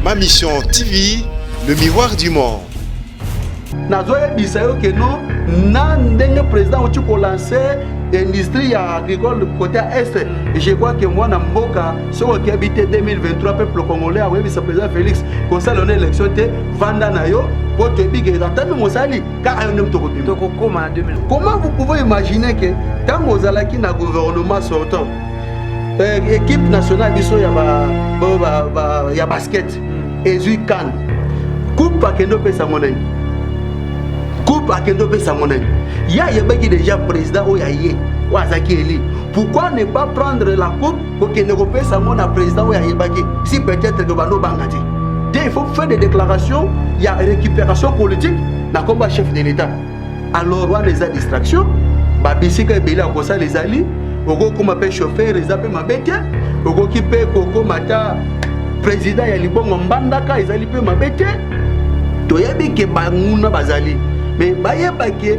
Ma Mission TV, le miroir du monde. nazoyebisa yo ke no na ndenge président auti kolanse industrie ya agricole côté ya est je crois ke mwana mboka soki okebi te 2023 peuple congolais akoyebisa président félix kosala na élection te vanda na yo mpo toyebi ke ata meme osali kaka yo nde moto okobima tokokoma na 2000 comment vous pouvez imaginer que ntango ozalaki na gouvernement sortant euh, équipe nationale biso ya, ba, ba, ba, ba, ya basket mm. ezwi kane coupe akende opesa ngo nani coupe akende opesa ngo nani ye ayebaki déjà président oyo aye oyo azalaki eli pourquoi ne pas prendre la coupe kokende kopesa yango na président oyo ayebaki si peut-être que bando banga te te il faut faire des déclarations ya récupération politique na komba chef de l'état alors wana eza distraction babisika ebele ya kosala ezali okokoma mpe chauffeur eza mpe mabe te okoki mpe kokoma ata président ya libongo mbandaka ezali mpe mabe te toyebi ke banguna bazali me bayeba ke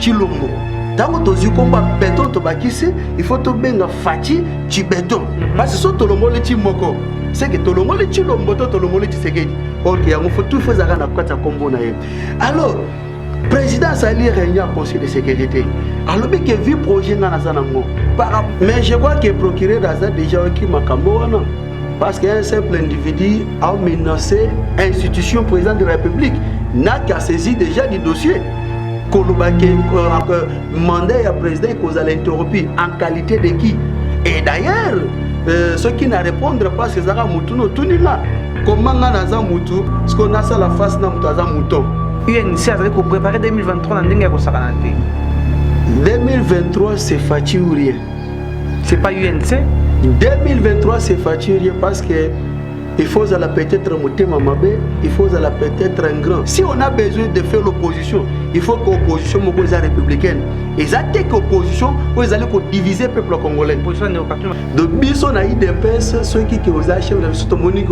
Chilombo. Tango tozwi kombo ya beton tobakisi il faut tobenga Fatshi Chibeton. Mhm. Parce que so tolongoli ti moko seke tolongoli Chilombo to tolongoli Tshisekedi. Or que yango faut tout faut ezalaka na kati ya kombo na ye. Alors président asali réunion ya conseil de sécurité alobi ke vi projet ngai naza nango mais je crois que procureur aza déjà oyoki makambo wana Parce qu'un simple individu a menacé institution président de la République n'a qu'à saisir déjà du dossier. koloba ke euh, mandat ya président ekozala interrompu en qualité de qui et d'ailleurs euh, soki na répondre parce que ezalaka motu na otuni nga koma nga naza motu sikoyo nasala face na moto aza moto unc azali koprépare 2023 na ndenge ya kosakana te 2023 c'est faci ou rien c'est pas UNC 2023 c'est faturier parce que il faut la peut-être motema mabe il faut la peut-être un grand si on a besoin de faire l'opposition il faut que opposition moko eza républicaine eza te que opposition oyo ezali kodiviser peuple congolais de biso na idps soki ke oza chef na biso tomoni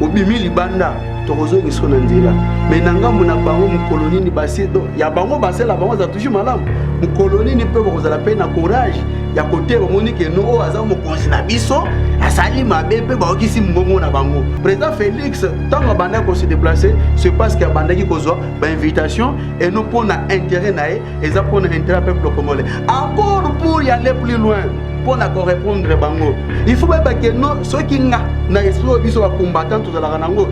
obimi libanda tokozongisa yo na nzela me na ngambo na bango mokolo nini basi ya bango basela bango aza toujours malamu mokolo nini mpe bakozala mpe na courage ya kote bamoni ke no oyo aza mokonzi na biso asali mabe mpe bayokisi mbongo na bango président félix ntango abandaki kose déplace c'est parce que abandaki kozwa bainvitation et no mpo na intérêt na ye eza mpo na intérêt peuple congolais accord pour y aller plus loin mpo na korépondre bango il faut bayeba ke no soki nga na esprit oyo biso bacombattant tozalaka nango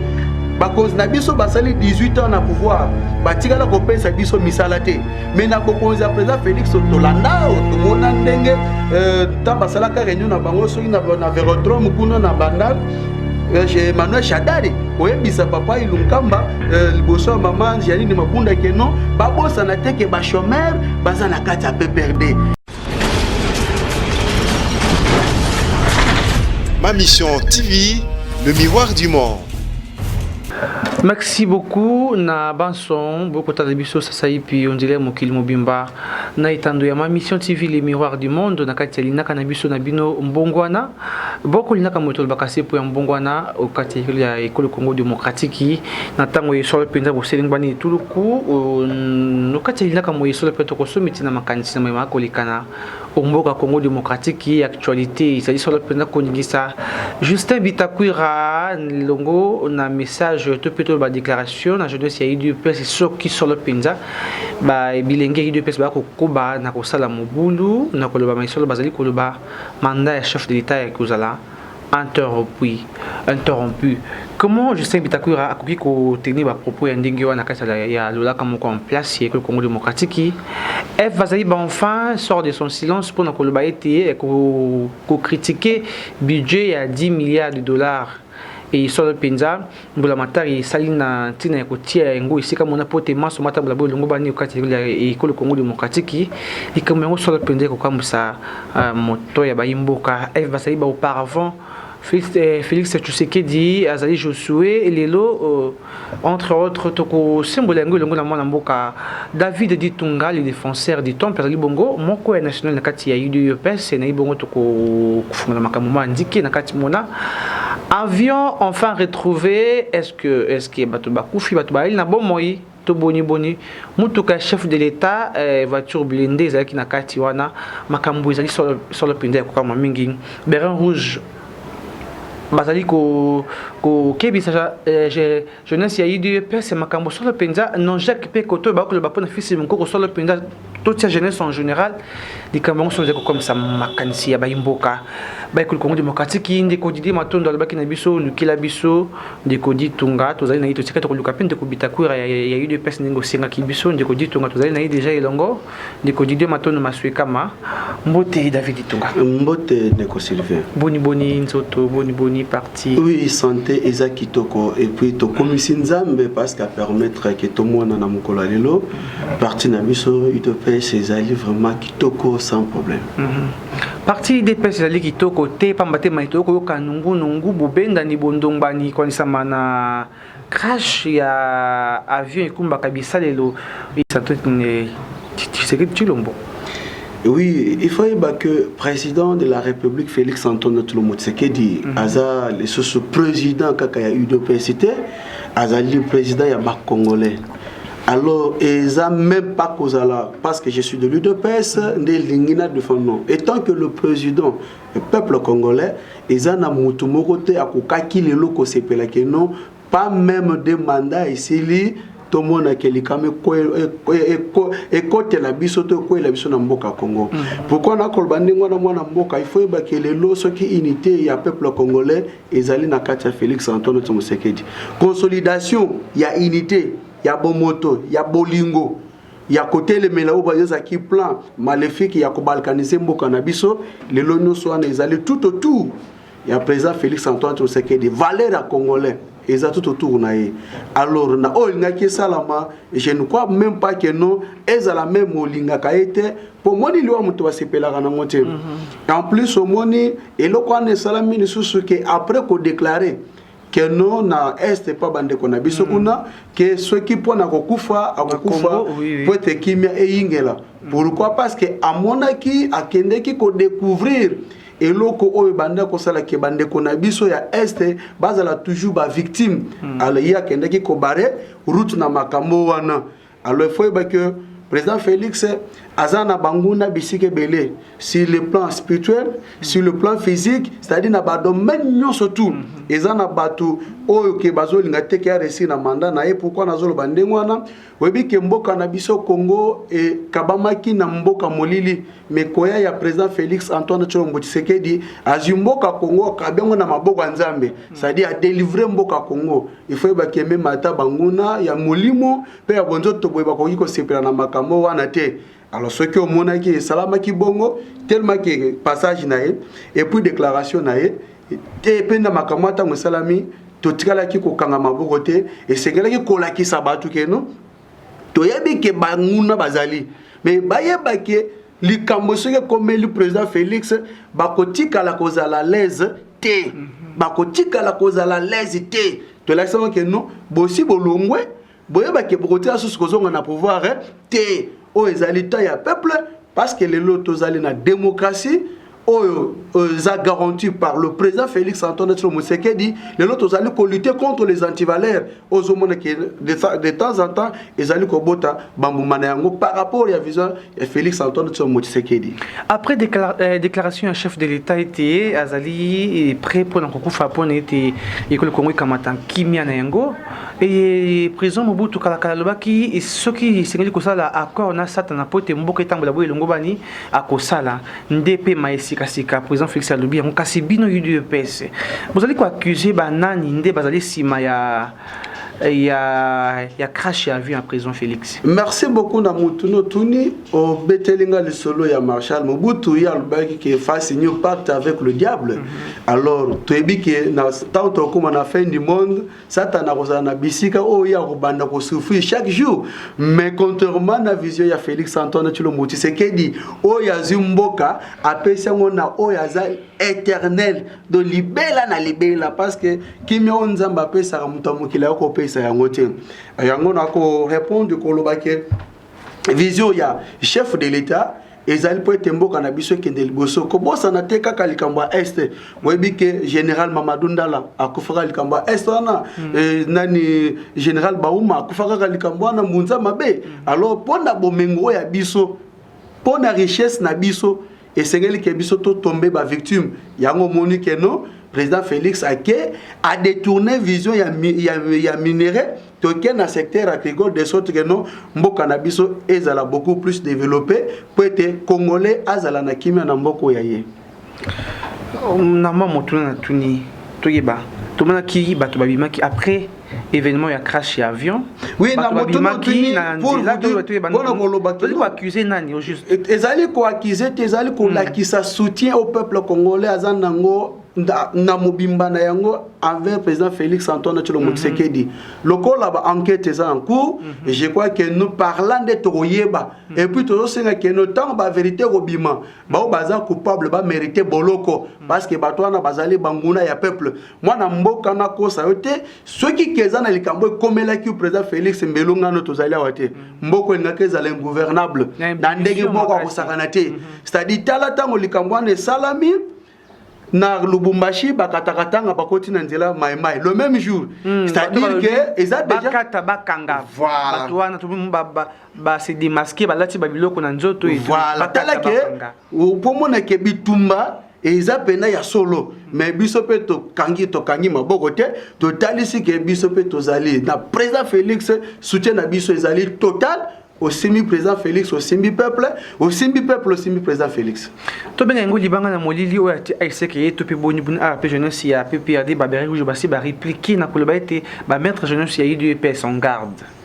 bakonzi na biso basali 18 ans na pouvoir batikala kopesa biso misala te me na bokonzi ya président félix tolanda tomona ndenge ntango euh, basalaka réunion na bango soki na verodrome kuna na bandal Eh, chez Emmanuel Shadari oyebisa papa Ilunkamba eh, liboso ya mama Janine Mabunda ke non babosana te ke ba chômeur baza na kati ya PPRD. Ma mission TV, le miroir du monde. merci beaucoup na banson bokotala biso sasa ipi ondile mokili mobimba na etando ya ma mission tv le miroir du monde na kati ya linaka na biso na bino mbongwana Boko linaka moto olobaka se po ya mbongwana o kati ya ekolo Congo demokratiki na tango ya esolo mpenza boselengbani etuluku o kati ya linaka moye esolo mpe tokosomi ntina makanisi na mayema kolekana o mboka Congo demokratiki actualite ezali solo mpenza koningisa Justin Bitakwira longo na message to mpe toloba declaration na jeunesse ya UDPS soki solo mpenza ba bilenge ya UDPS bakokoba na kosala mobulu na koloba ma esolo bazali koloba Mandat ya chef de l'etat ekozala interrompu. Comment Justin Bitakwira akoki ko tenir ba propos ya ndenge wana kati ya lolaka moko en place ya ekolo Congo démocratique? Eve Bazaiba enfin sort de son silence mpo na koloba ete ko critiquer budget ya 10 milliards de dollars et solo mpenza mbulamatari esali na ntina ya kotia yango esika mona mpo te manso matambola bo elongo bani okati ya ekolo kongo demokratiki likambo yango solo mpenza ekokamwisa uh, moto ya bayimboka f bazali baauparavant Félix, eh, Félix Tshisekedi azali Josué lelo euh, entre autres tokosembola yango elongo na mwana mboka David Ditunga le défenseur du temple azali bongo moko ya national na kati ya UDPS na ye bongo tokofungola makambo ma ndike na kati mona Avion enfin retrouvé est ce que est ce que bato bakufi bato bayali na bomoi to boni boni motuka ya chef de l'etat eh, voiture blindée ezalaki na kati wana makambo ezali solo, solo mpenza ya kokama mingi berin rouge bazali kokebisa ko, ko, eh, jeunesse ya udps makambo solo mpenza non jacques mpe koto ebaki koloba mpo na fils monkoko solo mpenza totia jeunesse en général likambo yango solo ezali kokomisa makanisi ya baimboka baekoli congo démocratique ndeko didie matondo alobaki na biso olukila biso ndeko ditunga tozali na ye totika tokoluka mpe ndeko bitakwira ya udps ndenge osengaki biso ndeko ditunga tozali na ye deja elongo Ndeko Didier Matondo Masuekama, mbote David Itunga. Mbote ndeko Sylvain. Boni boni nzoto, boni boni parti. Oui, santé eza kitoko et puis tokomisi Nzambe parce qu'à permettre que tomona na mokolo lelo parti na biso UDPS ezali vraiment kitoko sans problème. Mm -hmm. Parti UDPS ezali kitoko te pamba te maito okoyoka nungu nungu bobendani bondongbani kwanisama na Crash ya avion ekumbaka bisalelo isato eh, Tshisekedi Tshilombo. Oui, il faut dire que président de la République Félix Antoine Tshilombo Tshisekedi mm -hmm. aza le sous président kaka ya UDPS te, azali président ya ba Congolais. alors eza même pas kozala parce que je suis de l'udps nde elingi na defendre non étant que le président Peuple congolais eza na mutu moko te akokaki lelo kosepela que non pas meme de mandat esili tomona ke likama ekotela biso to ekwela biso na mboka congo mm. pourkui nakoloba ndenge wana mwana mboka ifo yeba ke lelo soki unité ya peuple congolais ezali na kati ya félix antoine tshisekedi consolidation ya unité ya bomoto ya bolingo ya kotelemela oyo bazozaki plan malefique ya kobalkanize mboka na biso lelo nyonso wana ezali tout autour ya président félix antoine tshisekedi valeur ya congolais eza tout autour na ye alors na oyo elingaki esalama je ne crois même pas que non ezala meme olingaka ye te mpo omoni liwa moto basepelaka nango te mhm. en plus omoni eloko wana esalami lisusu ke après kodeklare que non na est epa bandeko na biso mm. kuna ke soki mpo na kokufa akokufa mpo ete kimia eyingela mm. pourquoi parce que amonaki akendeki kodécouvrir eloko oyo ebandi akosala ke bandeko na biso ya este bazala toujours bavictime mm. ye akendeki kobare route na makambo wana Alors il faut yeba que président Félix aza na banguna bisika ebele sur le plan spirituel sur le plan physique c'est-à-dire na badomaine nyonso tout mhm. eza na bato oyo ke bazolinga te ke aresi na mandat na ye pourkui nazoloba ndenge wana oyebi ke mboka na biso congo ekabamaki na mboka molili mikoya ya président félix antoine tshilombo tshisekedi azwi mboka congo akabi yango na maboko ya nzambe c'est-à-dire adelivre mboka congo ifo oyeba ke meme ata banguna ya molimo mpe ya bonzoto boye bakoki kosepela na makambo wana te alors soki omonaki esalamaki bongo tellement ke passage na ye epuis déclaration na ye te mpe na makambo ya ntango esalami totikalaki kokanga maboko te esengelaki kolakisa bato keno toyebi ke banguna bazali me bayeba ke likambo soki ekomeli président félix bakotikala kozala laise te mhm. bakotikala kozala laise te tolakisama ke no bosi bolongwe boyeba ke bokotika susu kozonga na pouvoir eh, te oyo ezali temps ya peuple parce que lelo tozali na démocratie oyo euh, eza garanti par le président félix antoine tshilo mosekedi lelo tozali kolute contre les antivaleurs ozomona ke de temps en temps ezali kobota bambuma na yango par rapport ya vision ya félix antoine tshilo mosekedi après décla euh, déclaration ya chef de l'état ete azali prêt mpo na kokufa mpo na ete ekolo kongo ekamata kimia na yango eye président mobutu kalakala alobaki soki esengeli kosala accord na satana mpo ete mboka etambola boye elongobani akosala nde pema ye sikasika président félix alobi yango kasi bino udps bozali koaccuse banani nde bazali nsima ya ya, ya crash ya avion ya président félix merci beaucoup na motu notuni obeteli nga lisolo ya marshal mobutu ye alobaki ke face new pacte avec le diable mm -hmm. alors toyebi ke na ntango tokokoma na fin du monde satana akozala na bisika oyo ye akobanda kosouffrir chaque jour mais contrairement na vision ya félix antoine tshilombo tshisekedi oyo azwi mboka apesi yango na oyo aza éternel do libela na libela parce que kimia oyo nzambe apesaka moto ya mokili ayo kopesa yango te yango na korépondre koloba ke vision ya chef de l'etat ezali mpo ete mboka na biso ekende liboso kobosana te kaka likambo ya est boyebi ke général mamadou ndala akufaka likambo ya est wana mm. eh, nani général bauma akufa kaka likambo wana mbunza mabe mm. alors mpo na bomengo oyo ya biso mpo na richesse na biso esengeli ke biso to tombe ba victime yango omoni ke non président félix ake a détourné vision ya, ya, ya minerai toke na secteur agricole de sorte que non mboka na biso ezala beaucoup plus développé mpo ete congolais azala na kimia na mboko ya ye na mwa motuna na tuni toyeba tomonaki bato babimaki après événement ya crash ya avion oui, na moto maki na nzela to bato ebandona koloba tozali koaccuse nani au juste e, ezali koaccuse te ezali hmm. kolakisa soutien au peuple congolais aza nango na mobimba na yango envers président félix antoine tshilombo hmm. tshisekedi lokola ba enquête eza en cours hmm. je crois que nous parla nde tokoyeba et puis tozosenga ke no ntango baverité ekobima baoyo baza coupable bamérite boloko parce que bato wana bazali banguna ya peuple mwana mboka nakosa yo te soki keza na likambo ekomelaki président félix mbelongano tozali awa te mm. mboka elingaki ezala ingouvernable na ndenge moko akosakana te mm-hmm. c'est-à-dire tala ntango likambo wana esalami na lubumbashi bakataka tanga bakoti na nzela maimai le même jour mm, c'est-à-dire que eza déjà bakata bakanga voilà. bato wana ba se démasquer balati ba biloko na nzoto et voilà. batala ke pomona ke bitumba eza mpena ya solo me biso mpe tokangi tokangi maboko te totalisi ke biso mpe tozali na président félix soutien na biso ezali total osimbi président félix osimbi peuple osimbi peuple osimbi président félix tobenga yango libanga na molili oyo ati aiseke ye to mpe boni boni awa mpe jeunesse ya pprd baberi rouge basi bareplike na koloba ete bamaître jeunesse ya udps en garde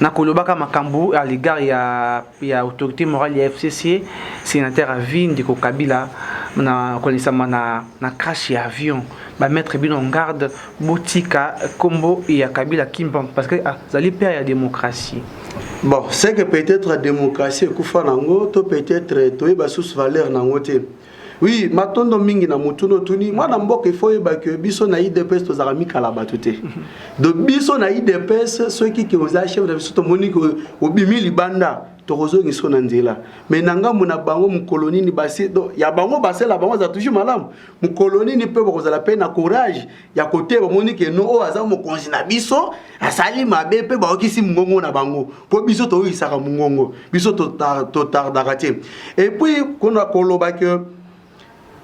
na kolobaka makambo à l'égard ya, ya autorité morale ya FCC, sénateur à vie ndeko Kabila na kolisama na, na crash ya avion ba mettre bino en garde botika kombo ya Kabila Kimpa parce que azali ah, père ya démocratie bon c'est que peut-être démocratie ekufa nango to peut-être toyeba sous valeur nango te Oui, matondo mingi na motuna otuni mwana mboka ifo oyeba ke biso na idps tozalaka mikala bato te do biso na idps soki ke oza chef na biso tomoni ke obimi libanda tokozongisa na nzela me na ngambo na bango mokolo nini basi ya bango basela bango aza toujours malamu mokolo nini mpe bakozala mpe na courage ya kote bamoni ke no oyo aza mokonzi na biso asali mabe mpe baokisi mongongo na bango mpo biso toyokisaka mongongo biso totardaka te epuis kona koloba ke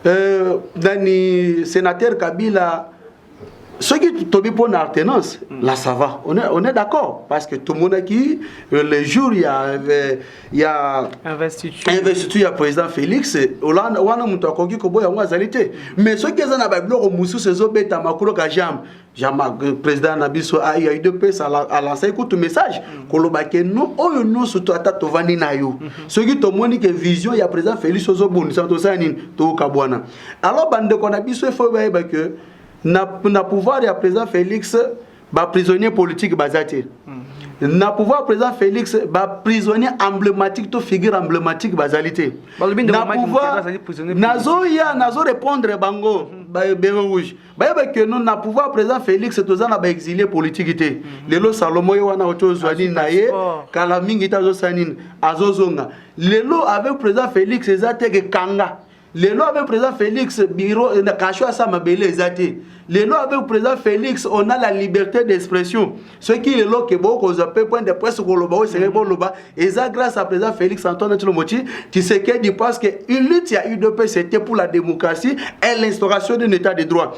euh, nani sénateur kabila soki tobi mpo na artenance la sava on est, on est d'accord parce que tomonaki euh, le jour ya euh, ya investiture ya président félix hollande wana moto akoki koboya yango azali te mais soki eza na babiloko mosusu ezobetama koloka jambe euh, président na biso ya udps alansaki kutu message mm. koloba ke no oyo nyonso to ata tovandi na yo mm-hmm. soki tomoni ke vision ya président félix ozobundisa tosala nini tokabwana alors bandeko na biso efo bayeba ke na, na pouvoir ya président félix ba prisonniers politiques baza te na pouvoir président félix baprisonnier emblématique to figure emblématique bazali te na pouvoir nazoya nazo répondre bango mhm. bere rouge bayeba ke no na pouvoir président félix toza na baexilie politique te mhm. lelo salomo ye wana oto ozwa nini na ye kala mingi te azosala nini azozonga lelo avec président félix eza te ke kanga lelo avec président Félix bureau na kasho asa mabele eza te lelo avec président Félix on a la liberté d'expression soki lelo ke bokozwa mpe point de presse koloba oyo esengeli boloba eza grâce à président Félix Antoine Tshilombo Tshisekedi parce que une lutte ya UDP c'était pour la démocratie et l'instauration d'un état de droit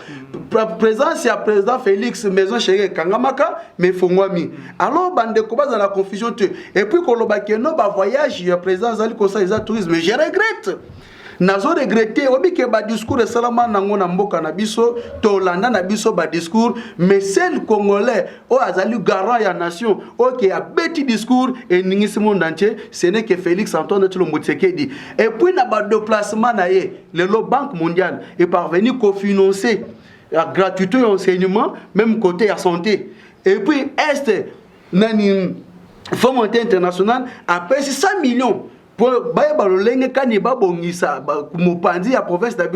présence ya président Félix maison chérie ekangamaka mais efongwami alors bandeko baza na confusion te et puis koloba ke no ba voyage ya président azali kosala eza tourisme je regrette nazo regrete oyebi ke badiscours esalama nango na mboka na biso tolanda na biso badiscours mais sel congolais oyo azali garant ya nation oyo ke abeti discours eningisi monde entier ce n'est que félix antoine tshilombo tshisekedi et puis na badeplacement na ye lelo banque mondiale eparvenu kofinancer ya gratuité ya enseignement même côté ya santé et puis est nani fond monté international apesi 100 millions mpo bayeba lolenge kani babongisa mopanzi ya province na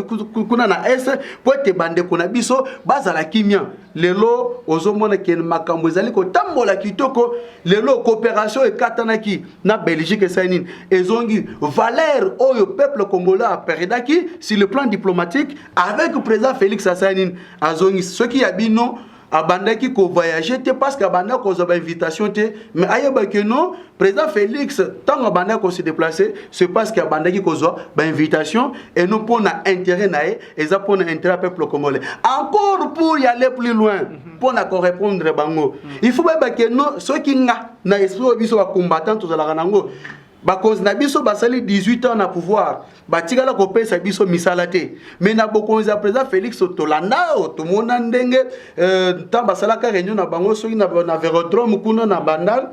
kuna na est mpo ete bandeko na biso bazala kimia lelo ozomona ke makambo ezali kotambola kitoko lelo coopération ekatanaki na belgique esali nini ezongi valeur oyo peuple congolais aperdaki sur le plan diplomatique avec président félix asali nini azongi soki ya bino abandaki ko voyager te parce que abanda kozwa ba invitation te mais ayeba que non président Félix ntango abanda ko se déplacer c'est parce que abandaki kozwa ba invitation et non mpo na intérêt na ye eza mpo na intérêt ya peuple congolais encore pour y aller plus loin mpo na ko répondre bango il faut bayeba que non soki nga na esprit oyo biso ba combattant tozalaka nango bakonzi na biso basali 18 ans na pouvoir batikala kopesa biso misala te me na bokonzi ya président félix tolanda oyo tomona ndenge euh, ntango basalaka réunion na bango soki na, na vérodrome kuna na bandal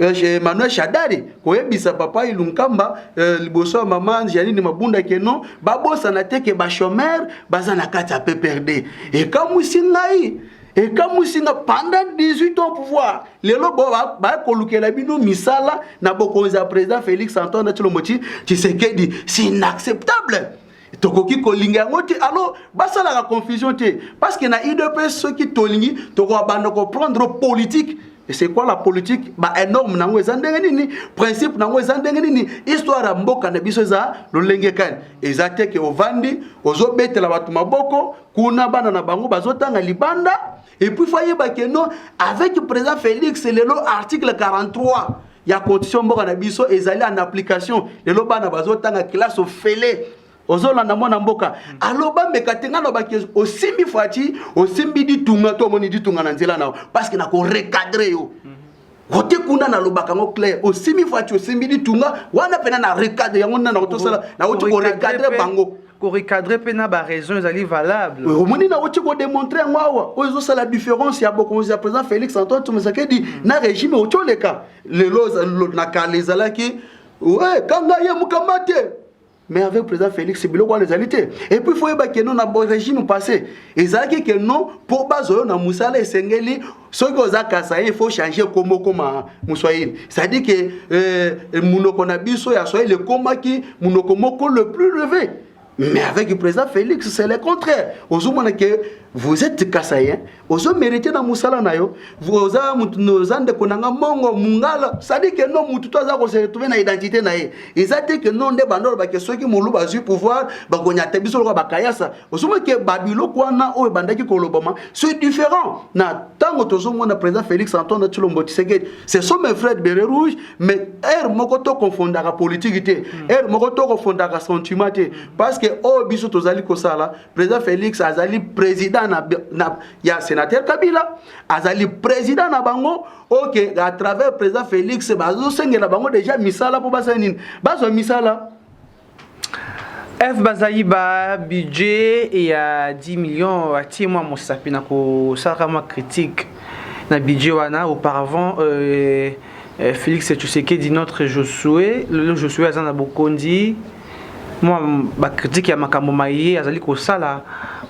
euh, emmanuel shadari koyebisa papa ilunkamba euh, liboso ya mama janine mabunda keno babosana te ke bachomere baza na kati ya pprd ekamwisi ngai ekamwisi nga pendant 18 ans pouvoir lelo baya kolukela bino misala na bokonzi ya président félix antoine tshilombo tshisekedi c'est inacceptable tokoki kolinga yango te alors basalaka confusion te parce que na udps soki tolingi tokoka banda koprendre politique et c'est quoi la politique ba énorme nango eza ndenge nini principe nango eza ndenge nini histoire ya mboka na biso eza lolenge kani eza te ke ovandi ozobetela bato maboko kuna bana na bango bazotanga libanda epuis fo ayeba ke non avec président félix lelo article 43 ya constitution mboka na biso ezali en application lelo bana bazotanga classe ofele ozolanda mwana mboka aloba meka te ngai nalobaki osimbi fati osimbi ditunga to omoni ditunga na nzela na yo parceke nakorecadre yo mm. ote kuna nalobaka yango clair osimbi fati osimbi litunga wana mpena na recadre yango nina nauti osala nauti korecadre bango korecadre mpe na baraison ezali valable omoni nauti kodemontre yango awa oyo ezosala différence ya bokonzi ya président félix antoine tomesekedi mm. na régime outi oleka lelo na kala ezalaki kanga ye mokamba te mais avec président félix biloko wana ezali te et puis foyeba ke no na régime passé ezalaki ke no mpo bazwa yo na mosala esengeli soki oza kasaye il faut changer kombo okoma moswahili cestadire ke euh, monoko na biso ya swahili ekomaki monoko moko le plus levé mais avec le président félix c'est le contraire ozomona ke vous êtes kasayen ozo merite na musala na yo oza oza ndeko na nga mongo mungala sadi ke no mutu to aza ko se retrouver na identité na ye eza te ke no nde banda olobake soki moluba azwi pouvoir bakonyata biso lokola bakayasa ozomona ke babiloko wana oyo ebandaki kolobama c'est différent na ntango tozomona président félix antoine tshilombo tshisekedi ce sont mes frères bere rouge mais heure moko tokofondaka politiki te heure moko tokofondaka sentiment te parce que oyo biso tozali kosala président félix azali président na, na, ya sénateur kabila azali président na bango oke à travers président félix bazosengela bango déjà misala mpo basala nini bazwa misala f bazaiba budget ya 10 millions atie mwa mosapi na kosalaka mwa critique na budget wana auparavant euh, euh, félix tshisekedi notre josue lelo josue aza na bokonzi mwa bakritike ya makambo maye azali kosala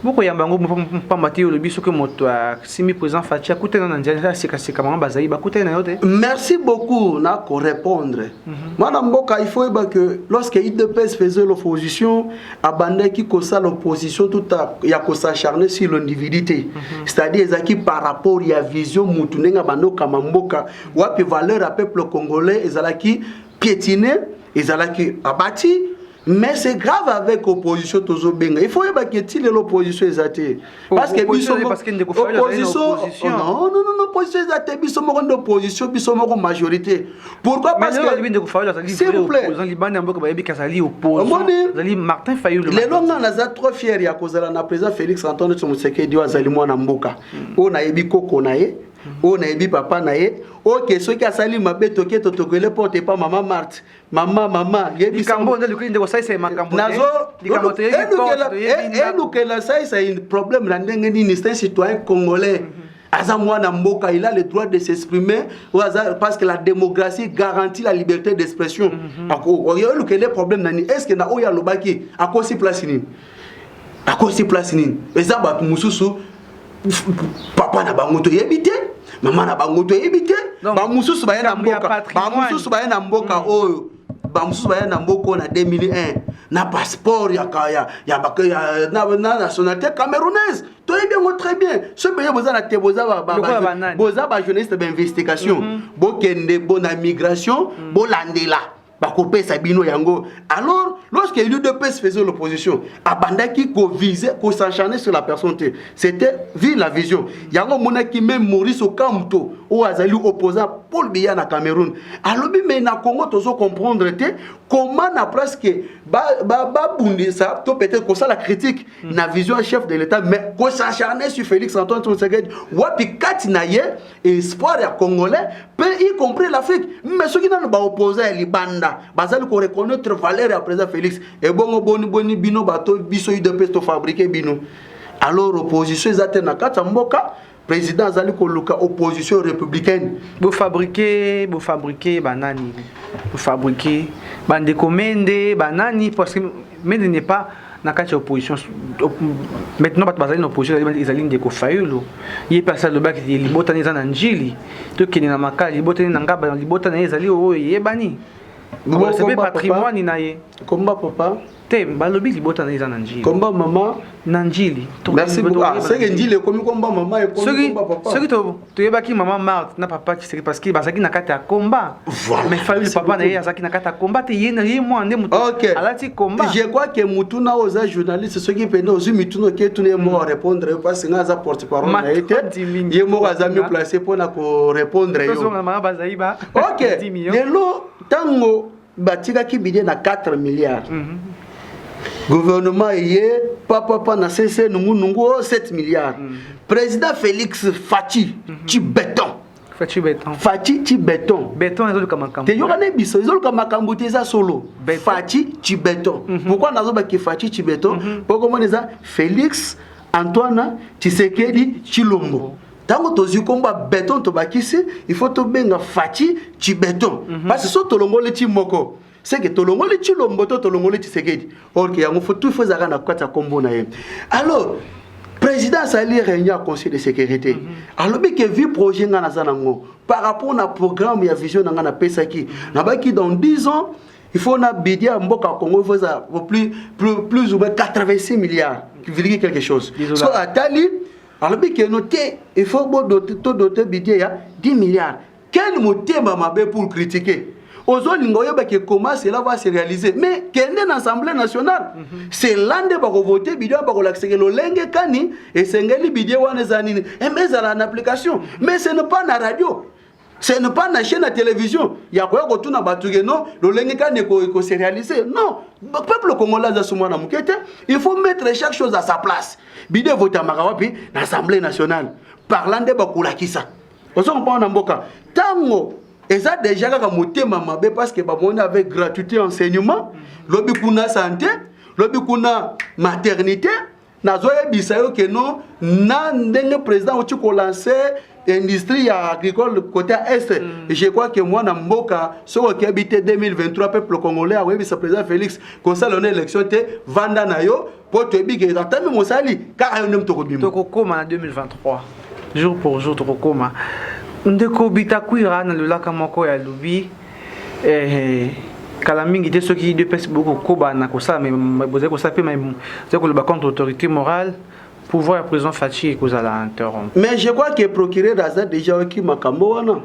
bokoyamba yango mpamba te olobi soki moto asimbi président faci akutana na nzela ya sekaseka bango bazali bakutani na yo te merci beaucoup na korépondre mhm. mwana mboka il faut yeba que lorsque idps faisait l'opposition abandaki kosala opposition tout ya kosacharne sur l'individu te mhm. c'est-à-dire ezalaki par rapport ya vision motu ndenge abandi okama mboka wapi valeur ya peuple congolais ezalaki piétiner ezalaki abati mais c'est grave avec opposition tozobenga il faut oyebaki eti lelo opposition eza te oh, parce que biso opposition oh, non non non opposition eza te biso moko nde opposition biso moko majorité pourquoi parce que s'il vous plaît omoni martin fayulu lelo nga naza trop fier ya kozala na président félix antoine tshisekedi oyo azali mwana mboka hmm. oyo nayebi koko na ye oyo nayebi papa na ye oke soki asali mabe toke totokele porte epa mama marte mama mama yebisaalukela saisa problème na ndenge nini c'est un citoyen congolais mm -hmm. aza mwana mboka il a le droit de s'exprimer parce que la démocratie garantit la liberté d'expression mhm. olukele problème nani est ce que na oyo alobaki akosi place nini akosi place nini eza bato mosusu papa na bango toyebi te mama na bango toyebi te bamosusu baye na mboka bamosusu baye na mboka mm. oyo bamosusu baye na mboka oyo na 2001 na passeport ya, ya, ya, ya, na, na nationalité camerounaise toyebi yango très bien soki boye boza na te boza boza bajournaliste bainvestigation mm -hmm. bokende bona migration mm -hmm. bolandela bakopesa bino yango alors lorsque l'udps faisait l'opposition abandaki kovise kosencharne sur la personne te c'était vive la vision yango omonaki meme maurice okamto oyo azali opposant paul biya na cameroun alobi me na congo tozo comprendre te comment na presque babundisa ba, ba to peut-être kosala critique mm. na vision ya chef de l'état mais kosencharne sur félix antoine tshisekedi wapi kati na ye espoir ya congolais mpe y compris l'afrique mais soki nano baoposa ya libanda bazali koreconnaitre valeur ya président félix ebongo boni boni bino bato biso udps tofabrike bino alors opposition eza te na kati ya mboka président azali koluka opposition républicaine bofabrike bofabrike banani bofabrike bandeko mende banani parce que mende n'est pas na kati ya opposition maintenant bato bazali na opposition ezali ndeko fayulu ye mpe asi alobaki te libotani eza na njili tokende na makala libotani na ngaba na libota na ye ezali oyo eyebani bakolisa mpe patrimoine na ye komba papa te balobi libota na ye eza na njili komba mama na njili merci beaucoup ah, soki njili ekomi komba mama ekomi komba papa soki toyebaki mama marte na papa kiseke parce que bazalaki na kati ya combat voilà. mais fayulu papa na ye azalaki na kati ya combat te ye na ye mwana nde moto okay. alati combat je crois que motuna oyo oza journaliste soki mpende ozwi mituna oke tuna ye moko arépondre yo parce nga aza porte parole na ye te ye moko aza mieux place mpo na korépondre yo ok lelo ntango batikaki bide na 4 milliards mm -hmm. gouvernement eye papapa na sese nungunungu o 7 milliards mm -hmm. président félix faci mm -hmm. ci béton faci béton faci ci béton béton ezoluka makambo te yoka ne biso ezoluka makambo te eza solo faci ci béton mm -hmm. pourquoi nazobaki faci ci béton mm -hmm. pokomona eza félix antoine tshisekedi tshilombo ntango tozwi nkombo ya beton tobakisi il faut tobenga faci ci beton mhm. parce so tolongoli ti moko seke tolongoli ti lombo to tolongoli tisekedi orke yango fo tout fo ezalaka na kati ya nkombo na ye alors président asali réunion ya conseil de sécurité mhm. alobi ke vi projet ngai naza nango par rapport na programme ya vision na ngai napesaki nabaki dans 10 ans il faut na budget ya mboka ya congo fo eza plus, plus, plus ou moins 86 milliards viliki quelque chose so atali alobi keno te il faut to dote budget ya 10 milliards quel motema mabe pour critiquer ozolinga oyeba ke comment cela va se réaliser mais kende na assemblée nationale mm -hmm. cela nde bakovote bidie wana bakolakiseke lolenge kani esengeli bidie wana eza nini eh, ezala na application mais ce ne pas na radio c'est ne pas na chaîne ya télévision ya koya kotuna bato ke non lolenge kani ekose réaliser non peuple congolais aza sumwa na moke te il faut mettre chaque chose à sa place bide evotamaka wapi na assemblée nationale parla nde bakolakisa ozo komprendre na mboka ntango eza déjà kaka motema mabe parce que bamoni avec gratuité enseignement lobi kuna santé lobi kuna maternité nazoyebisa yo ke non na ndenge président auti kolanse industrie ya agricole côté ya est mm. je crois que mwana mboka soki okebi te 2023 peuple congolais akoyebisa président félix kosala ona élection te vanda na yo mpo toyebi ke ata meme osali kaka yo nde moto okobima tokokoma na 2023 jour pour jour tokokoma ndeko bitakwira na lolaka moko ya lobi eh, kala mingi te soki udps bokokoba na kosala bozali kosala mpe ozali koloba contre autorité morale pouvoir ya président faci ekozala interrompu mais je crois que procureur aza déjà oyoki makambo wana mhm.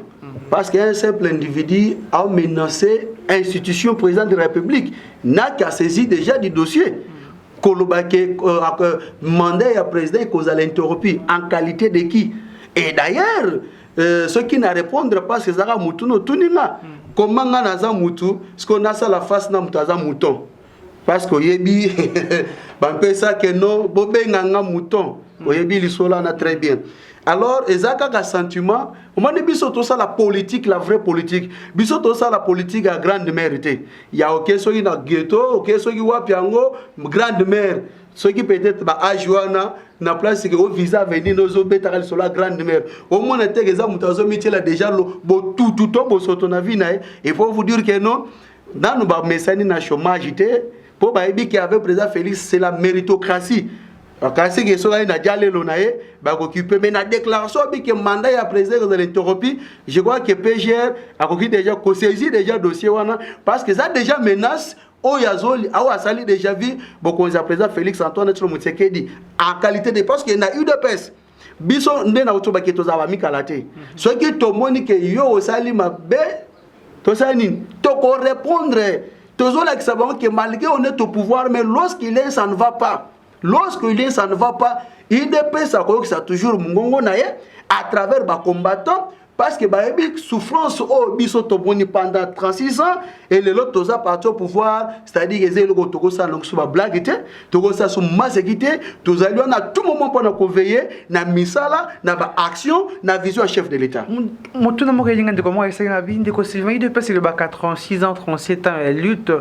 parce que un simple individu a menacé institution président de la république n'a qu'à saisir déjà du dossier mhm. koloba ke euh, euh, mandat ya président ekozala interrompu en qualité de qui et d'ailleurs Euh, soki na répondre parce que ezalaka mutu no otuni nga hmm. koma nga naza mutu sikoyo nasala face na mutu aza mouton parce que oyebi bampesa ke no bobenga nga mouton hmm. oyebi lisolo wana très bien alors eza kaka sentiment omoni biso tosala politique la vraie politique biso tosala politique ya grande mère te ya oke soki na ghetto oke soki wapi yango grande mère soki peut-être ba age wana na place que o visa avenir no zo betaka lisolo ya grande mère au moins te que eza mutu azo mitiela déjà lo botutu to bosoto na vie na ye et pour vous dire que non nanu ba mesani na chômage te po bayebi ke avec président Félix c'est la méritocratie kasi ke soki aye na jalelo na ye bakokipe mais na déclaration abi ke mandat ya président ekozala interrompi je crois que pgr akoki déjà kosaisir déjà dossier wana parce que eza déjà menace oyo azoli awo asali déjà vu bokonzi ya président félix antoine tshilo motsekedi en qualité de parce que na udps biso nde na otobaki tozala bamikala te mhm. soki tomoni ke yo osali mabe tosala nini tokorépondre tozolakisa bango ke malgré on est au pouvoir mais lorsqu'il est ça ne va pas lorsqu'il est ça ne va pas udps akoyokisa toujours mongongo na ye à travers bacombattant parce que bayebi souffrance oyo biso tomoni pendant 36 ans et lelo toza parti au pouvoir c'est-à-dire eza eloko tokosala longiso bablague te tokosala so maseki te tozali wana tout moment mpona koveille na misala na baaction na vision ya chef de l'état motuna moko elinga ndeko moko ayesaki na bi ndeko sylvain ido epesi elobaka 36 ans 37 ans ya lutte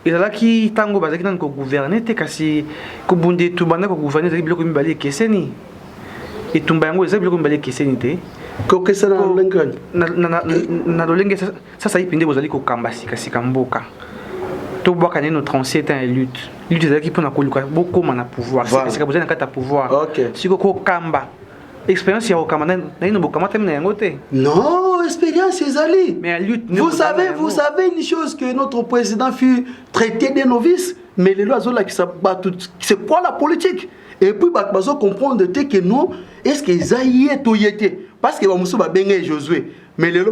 ezalaki ntango bazalaki nani kogouverner te kasi kobunda etu banda kogouverner ezalaki biloko mibale ekeseni etumba yango eza biloko mibale ekeseni te kokesana na lolenge kani na lolenge sasa ipi nde bozali kokamba sikasika mboka tobwaka neno 37 ans ya lutte lutte ezalaki mpona koluka bokóma na pouvoir sikasika bozali na kati ya pouvoir siko kokamba expérience ya kokamba naino bokamatami na yango te non expérience ezali mais lutte vous savez vous savez une chose que notre président fut traité de novice mais lelo azolakisa bato c'est quoi la politique et puis bato bazo comprendre te que non est ce que eza ye to ye te parce que bamosusu babenge ye josue mais lelo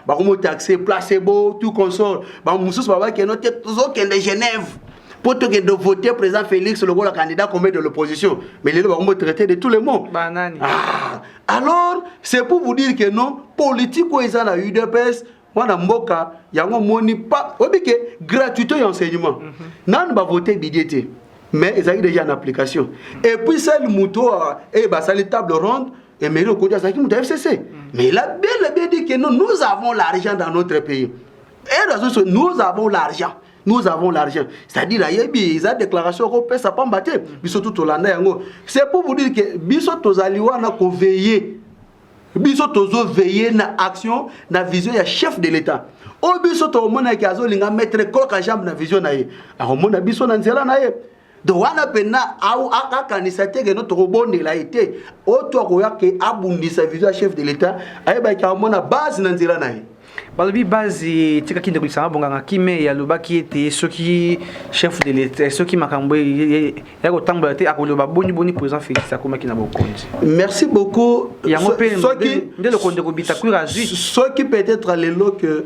bakomotaxe placebo tout console bamosusu babakeno te tozokende genève mpo tokende vote président félix lokola candidat combe de l'opposition mais lelo bakomotraite de tout le monde ah, alors c'est pour vous dire que non politique oyo eza na udps wana mboka yango moni pa oyebi ke gratuité ya enseignement mm -hmm. nanu bavote bidie te mais ezalaki déjà en application et puis sel moto oyo eye basali table ronde emeri okoti azalaki moto ya fcc mais il a bien le bien dit que non nous avons l'argent dans notre pays et raison nous avons l'argent nous avons l'argent c'est-à-dire ayebi eza déclaration okopesa pamba te biso tu tolanda yango c'est pour vous dire que biso tozali wana koveille biso tozo veiller na action na vision ya chef de l'etat oyo biso tokomonaki azolinga metre koka jambe na vision na ye akomona biso na nzela na ye donc wana mpenza akanisa te keno tokobondela ye te oyo to akoya ke abundisa vision ya chef de l'etat ayebaki akomona base na nzela na ye balobi base etikaki ndeko lisanga bonganga kimei alobaki ete soki chef de l'etat soki makambo ya kotambola te akoloba boni boni président félix akomaki na bokonzi merci beaucoup yango mpe nde lokonde kobita kuira azwi soki peut-être lelo que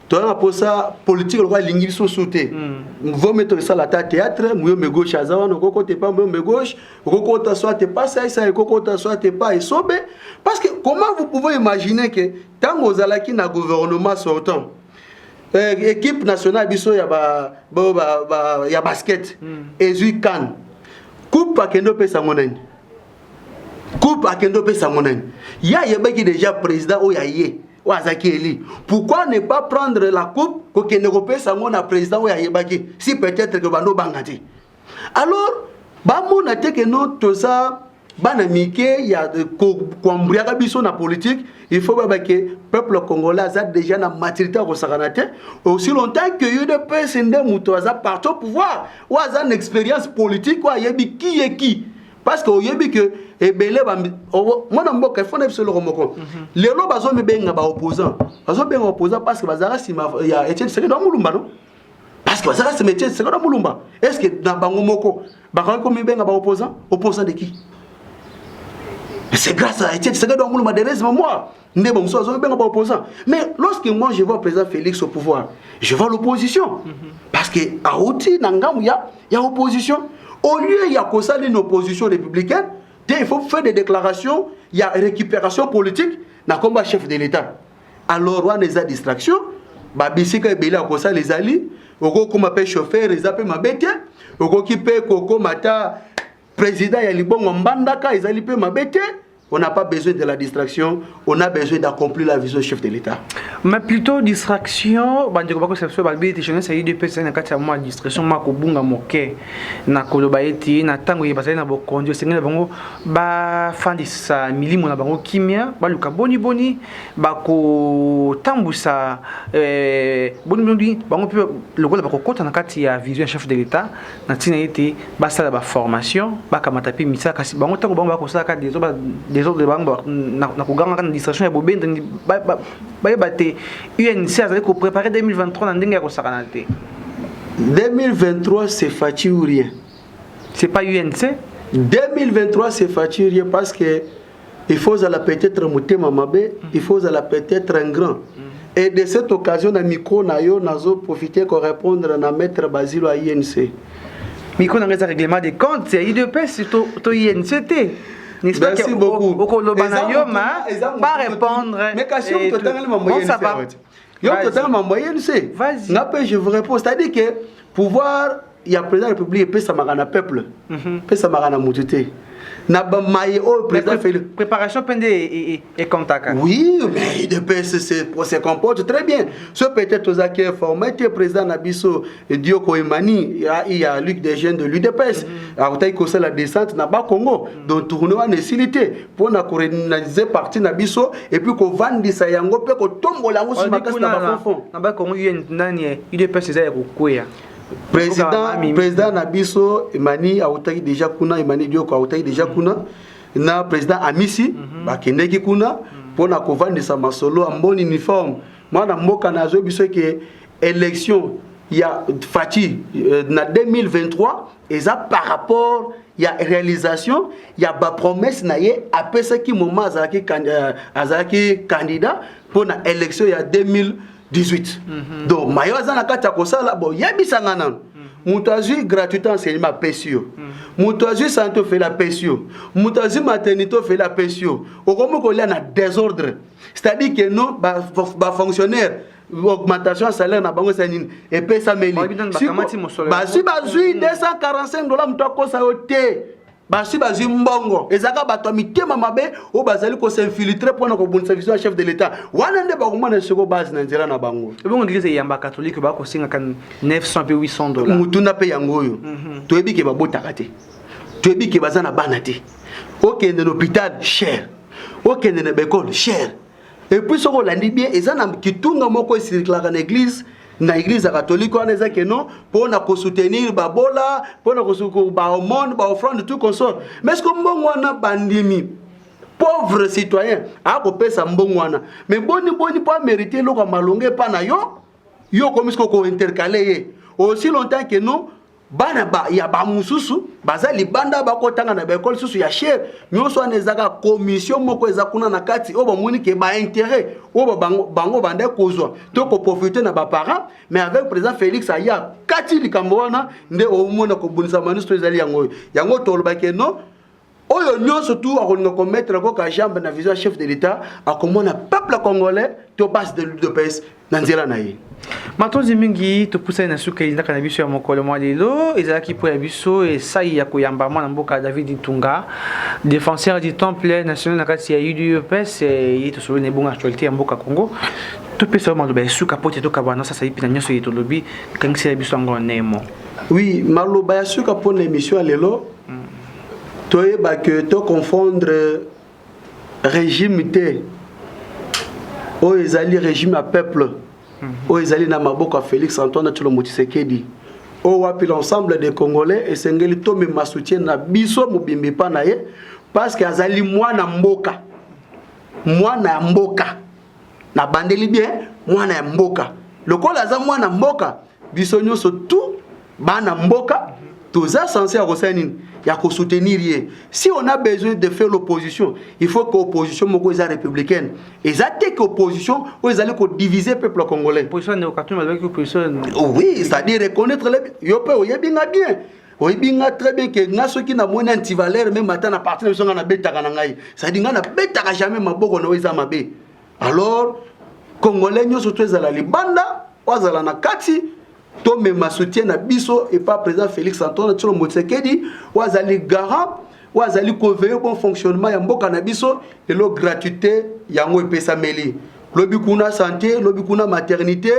toza na mposa politike lokola elingi biso mosusu te hmm. vome tosala ata théâtre muyombe gauche aza wana okokota epa muyombe gauche okokota soit epa saisa ekokota soit epa esobe parce que comment vous pouvez imaginer que ntango ozalaki na gouvernement sortant eh, équipe nationale biso ya, ba, ba, ba, ba, ya basket mm. ezwi kane coupe akende opesa yango nani coupe akende opesa yango nani ye ayebaki déjà président oyo aye oyo azalaki eli pourquoi ne pas prendre la coupe kokende kopesa yango na président oyo ayebaki si peut-être ke bando obanga te alors bamona te ke no toza bana mike ya koambriaka biso na politique il faut baba ke peuple congolais aza déjà na maturité ya kosakana te aussi longtemps que udps nde moto aza parti au pouvoir oyo aza na expérience politique oyo ayebi ki ye ki parce que oyebi ke ebele mwana mboka efo na biso eloko moko mhm. lelo bazomibenga baopposant bazobenga opposant parce que bazalaka nsima ya etienne sekedi amulumba no parce que bazalaka cimetière seko na mulumba est ce que na bango moko bakaki komibenga ba opposant opposant de qui c'est grâce à Etienne Tshisekedi wa mulumba Therese Mamoa nde bamosusu bazobenga ba opposant mais lorsque moi je vois président Félix au pouvoir je vois l'opposition mhm. parce que auti na ngambo ya ya opposition au lieu ya kosala une opposition républicaine te il faut faire des déclarations ya récupération politique na komba chef de l'état alors wana eza distraction babisika ebele akosala ezali okokoma mpe chauffeur eza mpe mabe te okoki mpe kokoma ata président ya libongo mbandaka ezali mpe mabe te on n'a pas besoin de la distraction, on a besoin d'accomplir la vision du chef de l'État. Mais plutôt distraction, bande ko bakose so balbi te jeunesse yi depuis ça na kati ya moi distraction ma ko bunga moke na koloba eti na tango ye basali na bokonzi osengela bango bafandisa milimo na bango kimia baluka boni boni bakotambwisa eh, boni boni bango mpe lokola bakokɔta na kati ya vision ya chef de l'etat na ntina ete basala baformation bakamata mpe misala kasi bango ntango bango bakosalaka desordre bango na kogangaka na distraction ya bobendani bayeba te unc azali koprepare 2023 na ndenge ya kosakana te 2023 c'est faci ou rien C'est pas UNC 2023 c'est faturier parce que il faut ozala peut-être motema mabe, mm. il faut ozala peut-être un grand. Mm. Et de cette occasion na micro na yo nazo profiter ko répondre na maître Basilo à INC. Micro na ngeza règlement des comptes, c'est IDPS to to INC te. N'est-ce pas Merci beaucoup. Okoloba na yo ma pas répondre. Mais kasi on to tangala mambo INC. Yo to tangala mambo INC. Nga pe je vous réponds, c'est-à-dire que pouvoir ya président république epesamaka na peuple mhm. epesamaka na moto te na bamaye oyo président feli préparation mpe nde ekontaka oui mais idps se comporte très bien ce peut-être tozalaki informe te président na biso dioko emani ya luc des jeunes de l'udps mhm. akotaki kosala descente na bakongo mhm. donc tourne wana esili te mpo na korenalize parti na biso epuis kovandisa yango mpe kotombola yango si makasi na bafonfon na bakongo nani udps eza ya kokweya president president na biso emani autaki deja kuna emani dioko autaki deja kuna na president amisi mm -hmm. bakendeki kuna mpo mhm. na kovandisa masolo ya mboni uniforme mwana mboka na azwi biso eke élection ya faci euh, na 2023 eza par rapport ya réalisation ya bapromesse na ye apesaki moment azalaki euh, azalaki candidat mpo na élection ya 2000 18 mhm. donc mayo aza na kati ya kosala boyebisa nga nano moto azwi gratuité enseignement apesi yo moto azwi sante ofeli apesi yo moto azwi maternité ofeli apesi yo okomi kolia na désordre c'est-à-dire que non bafonctionnaire ba augmentation ya salaire na bango eza nini epesameli bazwi bazwi 245 dola moto akosa yo te basi bazwi mbongo ezalaka bato ya mitema mabe oyo bazali kosinfiltre mpo na kobundisa vision ya chef de l'etat wana nde bakomona soko base na nzela na bango ebongo eglise eyamba katholike bakosengaka 900 mpe 800 dola motuna mpe yango oyo mhm. toyebi ke babotaka te toyebi ke baza na bana te okende na hôpital cher okende na baekole cher epuis soki olandi bien eza na kitunga moko esirklaka na eglise na eglise ya katolike wana eza keno mpo na kosoutenir babola mpo na baomone baoffrande tout consort mais siko mbongo wana bandimi pauvre citoyen akopesa mbongo wana mais boni boni mpo amerite eloko ya malonga epa na yo yo okomi siko kointercale ye aussi longtemps que non bana ba, ya bamosusu baza libanda bakotanga na baekole susu ya sher nyonso wana ezaka komisio moko eza kuna na kati oyo bamoni ke bainteret oyo bango, bango banda kozwa to koprofite na baparent mais avec président félix aya kati likambo wana nde omona kobundisa manisto ezali yango oyo yango tolobake non oyo nyonso tu akolinga komettre yango ka jambe na vision ya chef de l'etat akomona peuple congolais to base de l'udps na nzela na ye matondi mingi topusani na suka elindaka na biso ya mokolo mwa lelo ezalaki mpo ya biso esai ya koyamba mwana mboka david ntunga défenseur du temple national na kati ya udps eh, ye tosololi na ebongo actualité ya mboka congo topesa yo maloba ya suka mpo te tokabana sasa ye mpena nyonso ye tolobi kangisela biso yango nemo oui maloba ya suka mpo na émission ya lelo toyeba que to confondre regime te oyo ezali regime ya peuple mhm. oyo ezali na maboko ya félix antoine tshilombo tshisekedi oyo wapi l'ensemble des congolais esengeli tomema soutien na biso mobimbi mpa na ye parce que azali mwana mboka mwana ya mboka nabandeli bien mwana ya mboka lokola aza mwana mboka biso nyonso tu bana mboka toza sense ya kosala nini ya kosoutenir ye si on a besoin de faire l'opposition il faut que opposition moko eza républicaine eza te que opposition oyo ezali kodivise peuple congolais oui c'est-à-dire reconnaître yo mpe oyebi nga bien oyebi nga très bien ke nga soki namoni antivaleur meme ata na parti na biso nga nabetaka na ngai sadi nga nabetaka jamais maboko na yo eza mabe alors congolais nyonso to ezala libanda oyo azala na kati tomema soutien na biso epa président félix antoine tsholo motsekedi oyo azali garant oyo azali koveille bon fonctionnement ya mboka na biso lelo gratuité yango epesameli lobi kuna santé lobi kuna maternité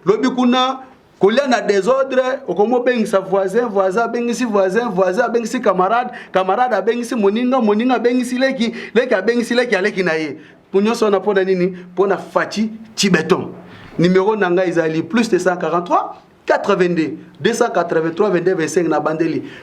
lobi kuna kolia na desordre okomi obengisa voisin voisin abengisi voisin voisin abengisi camarade camarade abengisi moninga moninga abengisi leki leki abengisi leki aleki na ye nyonso wana mpo na nini mpo na faci cibeton numero na ngai ezali plus 243 82 283 22 25 na bandeli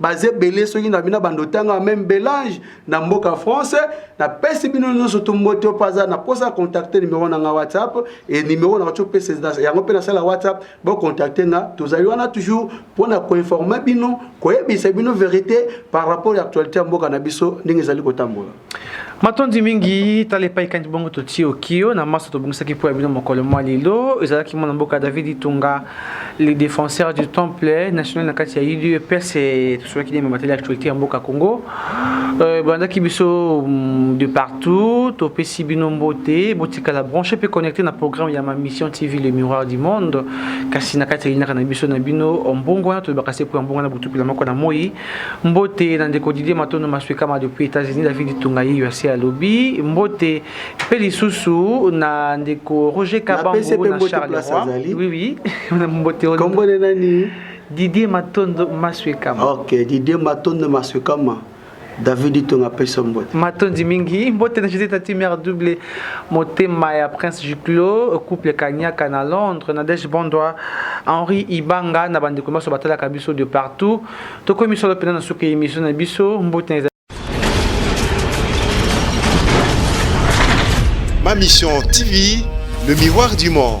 baza ebele soki na bino bando ntango ya meme belange na mboka france napesi bino nyonso to mbote oyo aza na mposa ya contacte numero na nga whatsapp e numero na bato opesa yango mpe nasala whatsapp bocontacte nga tozali wana toujours mpo na koinforme bino koyebisa bino verité par rapport ya actualité ya mboka na biso ndenge ezali kotambola matondi mingi tala epai kandi bongo totii okio na maso tobongisaki mpo ya bino mokolo mwa lelo ezalaki mwana mboka david itunga le défenseur du temple national na kati ya udps e, tosolaki nde mamateli actualité ya mboka congo euh, bandaki biso mm, de partout topesi bino mbote botikala branche mpe connecté na programme ya ma mission tv le miroir du monde kasi na kati ya linaka na biso na bino mbongo wana tolobaka se mpo ya mbongo wana botupila moko na moi Mbote na ndeko Didier Matondo Maswekama depuis États-Unis David Tunga ye asi alobi mbote mpe lisusu na ndeko Roger Kabango na Charleroi oui oui mbote kombo na nani Didier Matondo Maswekama OK Didier Matondo Maswekama David Tunga pesa mbote matondi mingi mbote na Joseph Tati mère double Motema ya Prince Duclos, couple Kanyaka na Londres, Nadège Bondwa, Henri Ibanga na bandeko baso batalaka biso de partout. Tokomi solo pena na suka emission na biso. Mbote na Ma Mission TV, le miroir du monde.